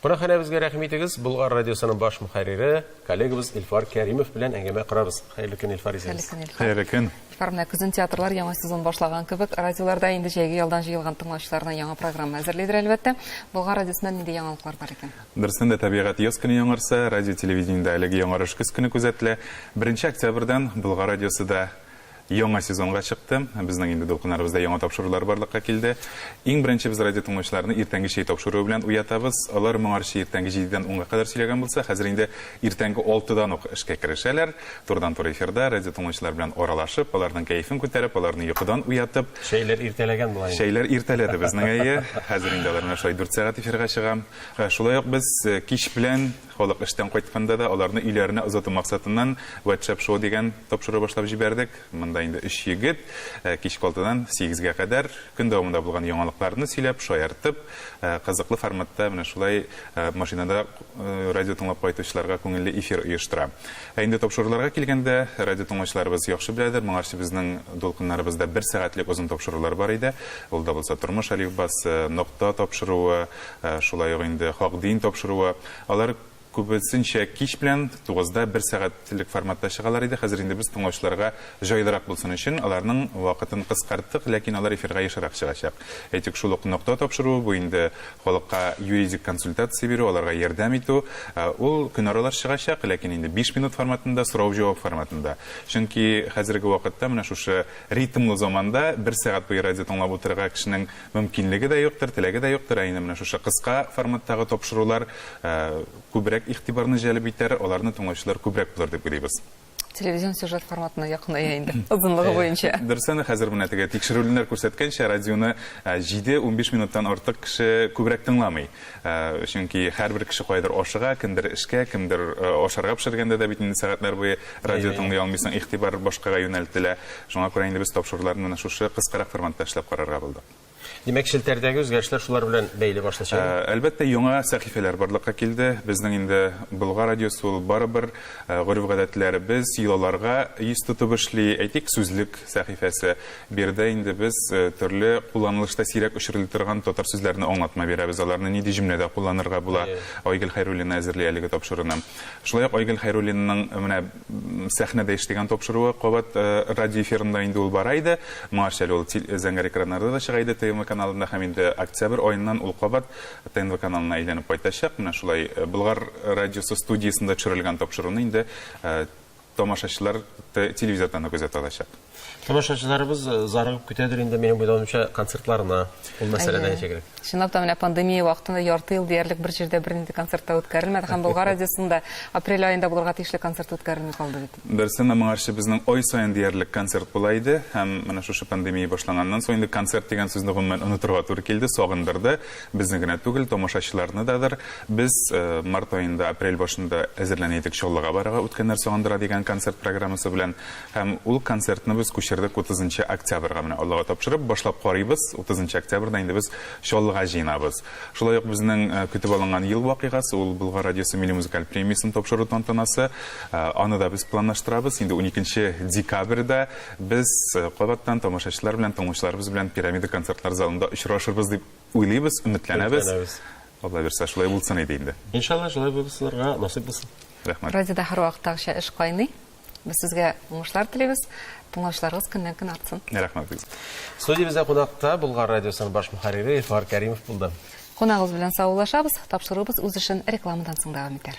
Кунакханәбезгә рәхим итегез, Болгар радиосының баш мөхәррире, коллегабыз Илфар Кәримов белән әңгәмә корабыз. Хәерле көн, Илфар исәбез. Хәерле көн, Илфар. Хәерле көн. Илфар, менә көзен театрлар яңа сезон башлаган кебек, радиоларда инде җәйге ялдан җыелган тыңлаучыларына яңа программа әзерлидер, әлбәттә. Болгар радиосында нинди яңалыклар бар икән? Дөрестән дә, тәбигать яз көне яңарса, радио-телевидениедә әлеге яңарыш көз көне күзәтелә. Беренче октябрьдән Болгар радиосы да Яңа сезонга чыкты. Безнең инде дулкыннарыбызда яңа тапшырулар барлыкка килде. Иң беренче без радиотыңлаучыларны иртәнге чәй тапшыруы белән уятабыз. Алар моңарчы иртәнге җидедән унга кадәр сөйләгән булса, хәзер инде иртәнге алтыдан ук эшкә керешәләр. Турыдан-туры эфирда, радиотыңлаучылар белән аралашып, аларның кәефен күтәреп, аларны йокыдан уятып. Чәйләр иртәләгән була инде. Чәйләр иртәләде безнең, әйе. Хәзер инде алар менә шулай дүрт сәгать эфирга чыга. Шулай ук без кич белән. Халык эштән кайтканда да аларны өйләренә озату максатыннан WhatsApp шоу дигән тапшыру башлап җибәрдек. Монда инде өч егет кичке алтыдан сигезгә кадәр көн дәвамында булган яңалыкларны сөйләп, шаяртып, кызыклы форматта менә шулай машинада радио тыңлап кайтучыларга күңелле эфир оештыра. Ә инде тапшыруларга килгәндә, радиотыңлаучыларыбыз яхшы беләдер, моңарчы безнең дулкыннарыбызда бер сәгатьлек озын тапшырулар бар иде. Ул да булса Тормыш алифбасы, Нокта тапшыруы, шулай ук инде хак дин тапшыруы, алар күбесенчә кич белән, тугызда, бер сәгатьлек форматта чыгалар иде, хәзер инде без тыңлаучыларга җайлырак булсын өчен, аларның вакытын кыскарттык, ләкин алар эфирга ешрак чыгачак. Әйтик, шул ук Нокта тапшыруы, бу инде халыкка юридик консультация бирү, аларга ярдәм итү, ул көнаралаш чыгачак, ләкин инде биш минут форматында, сорау-җавап форматында. Чөнки хәзерге вакытта, менә шушы ритмлы заманда бер сәгать буе радио тыңлап утырырга кешенең Мөмкинлеге дә юктыр, теләге дә юктыр, ә инде менә шушы кыска форматтагы тапшырулар күбрәк игътибарны җәлеп итәр, аларны тыңлаучылар күбрәк булыр дип уйлыйбыз. Телевизион сюжет форматына якыная инде, озынлыгы буенча. Дөресен, хәзер менә теге тикшерүленнәр күрсәткәнчә, радионы 7-15 минуттан артык кеше күбрәк тыңламый. Чөнки һәрбер кеше кайдыр ашыга, кемдер эшкә, кемдер ашарга пешергәндә дә бит инде сәгатьләр буе радио тыңлый алмыйсың, игътибар башкага юнәлтелә. Шуңа күрә инде без тапшыруларны менә шушы кыскарак форматта эшләп карарга булдык. Димәк, челтәрдәге үзгәрешләр шулар белән бәйле башлыча? Әлбәттә, яңа сәхифәләр барлыкка килде. Безнең инде Болгар радиосы ул барыбер гореф-гадәтләребез, йолаларга йөз тотып эшли. Әйтик, сүзлек сәхифәсе. Биредә инде без төрле кулланылышта сирәк очрыли торган татар сүзләренә аңлатма бирәбез, аларны нинди җөмләдә кулланырга була. Айгөл Хәйруллина әзерли әлеге тапшыруны. Шулай ук Айгөл Хәйруллинаның менә сәхнәдә эш дигән тапшыруы кабат радио эфирында инде ул бара иде. Моңарчы әле ул зәңгәр экраннарда да чыга иде ТНВ каналында һәм инде октябрь аеннан ул кабат ТНВ каналына әйләнеп кайтачак. Менә шулай Болгар радиосы студиясендә төшерелгән тапшыруны инде Тамашачылар да телевизордан да күзәтә алачак. Тамашачыларыбыз зарыгып көтәдер инде, минем уйлавымча, концертларына. Ул мәсьәлә дә ничек элек? Чынлап та, менә пандемия вакытында ярты ел диярлек бер җирдә бернинди концерт та үткәрелмәде һәм Болгар радиосында апрель аенда булырга тиешле концерт үткәрелми калды бит. Дөрестән дә, моңарчы безнең ай саен диярлек концерт була иде һәм менә шушы пандемия башланганнан соң инде концерт дигән сүзне гомумән онытырга туры килде, сагындырды. Безне генә түгел, тамашачыларны да дыр. Без март аенда, апрель башында әзерләнә идек Чаллыга барырга Үткәннәр сагындыра дигән концерт программасы белән. Һәм ул концертны без күчердек утызынчы октябрьга. Менә Аллага тапшырып, башлап карыйбыз, утызынчы октябрьдә инде без Чаллыга җыенабыз. Шулай ук безнең көтеп алынган ел вакыйгасы, ул Болгар радиосы милли музыкаль премиясен тапшыру тантанасы. Аны да без планлаштырабыз. Инде уникенче декабрьдә без кабаттан тамашачылар белән, тыңлаучыларыбыз белән Пирамида концертлар залында очрашырбыз дип уйлыйбыз, өметләнәбез. Өметләнәбез. Алла бирсә, шулай булсын иде инде. Иншалла, шулай булсынырга насыйп булсын. Рәхмәт. Радиода һәрвакыттагыча эш кайный. Без сезгә уңышлар телибез. Тыңлаучыларыгыз көннән-көн артсын. Рәхмәт бик зур. Студиябездә кунакта Болгар радиосының баш мөхәррире Илфар Кәримов булды. Кунагыбыз белән саулашабыз, тапшыруыбыз үз эшен рекламадан соң дәвам итәр.